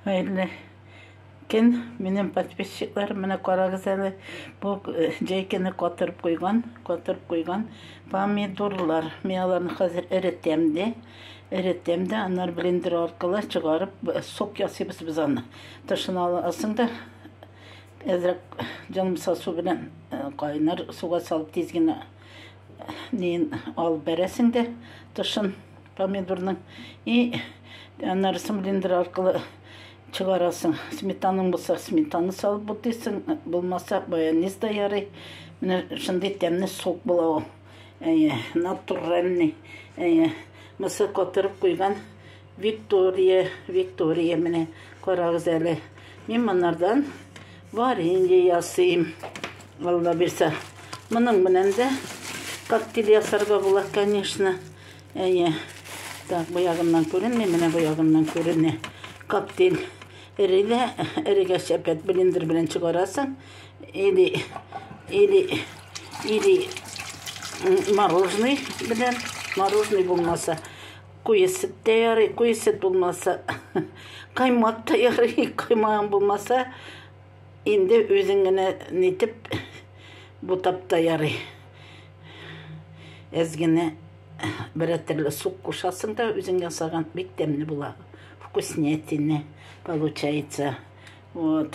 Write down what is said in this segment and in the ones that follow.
Хәерле көн, минем подписчиклар, менә карагыз әле, бу э, җәйкене катырып куйган, катырып куйган помидорлар. Мин аларны хәзер эретәм дә, эретәм дә, аннар блендер аркылы чыгарып, э, сок ясыйбыз без аны. Тышын аласың да, әзрәк җанымса су белән э, кайнар суга салып тиз генә неен алып бәрәсең дә тышын помидорның и анар сымлендер аркылы чыгарасың сметаның болса сметаны салып бутыйсың булмаса майонез да ярый менә шундый тәмле сок була ул әйе натуральный әйе мысы катырып куйган Виктория, Виктория, менә карагыз әле. Мин монардан варенье ясыйм. Алла бирсә. Моның белән дә коктейль ясарга була, конечно. Әйе. Так, бу ягыннан күренми, менә бу ягыннан күренә. Коктейль эрегә, эрегә шәпәт блендер белән чыгарасың. Или, или, или мороженый белән, мороженый булмаса, Куе сөт тә ярый, куе сөт булмаса, каймак та ярый, каймагың булмаса, инде үзең генә нитеп бутап та ярый. Әз генә берәр төрле сук кушасың да, үзең ясаган бик тәмле була. Вкуснятина получается. Вот.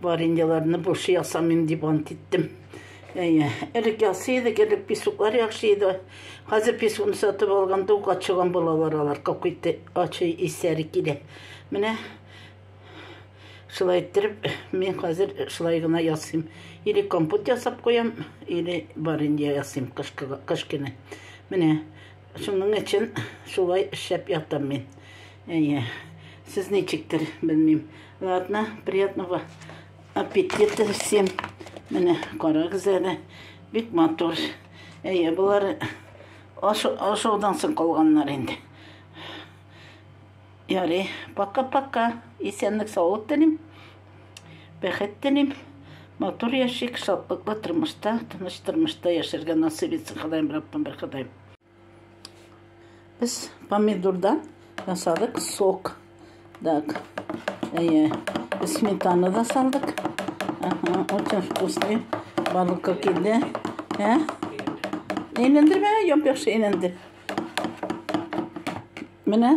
Вареньяларны булшы ясамыйм дип ант иттем. Әйе, элек ясый идек, элек песоклар яхшы иде. Хәзер песокны сатып алганда ук ачыган балалар алар, какуйты ачы исләре килә. Менә шулай иттереп, мин хәзер шулай гына ясыйм. Или компот ясап куям, или варенье ясыйм кыш көне. Менә Шуның өчен шулай эшләп ятам мин. Әйе. Сез ничектер, белмим. Ладно, приятного аппетита всем. Менә карагыз әле. Бик матур. Әйе, болар ашаудан соң калганнар инде. Ярый, пока-пока. Исәнлек, саулык телим. Бәхет телим. Матур яшик, шатлыклы тормышта, тыныч тормышта яшәргә насыйп итсен Ходаем Раббым бер Ходаем. Без помидордан ясадык сок. Так. Әйе. Сметана да салдык. Ага, очень вкусный. Балыкка килде. Ә? Әйләндер бә, яп яхшы әйләндер. Менә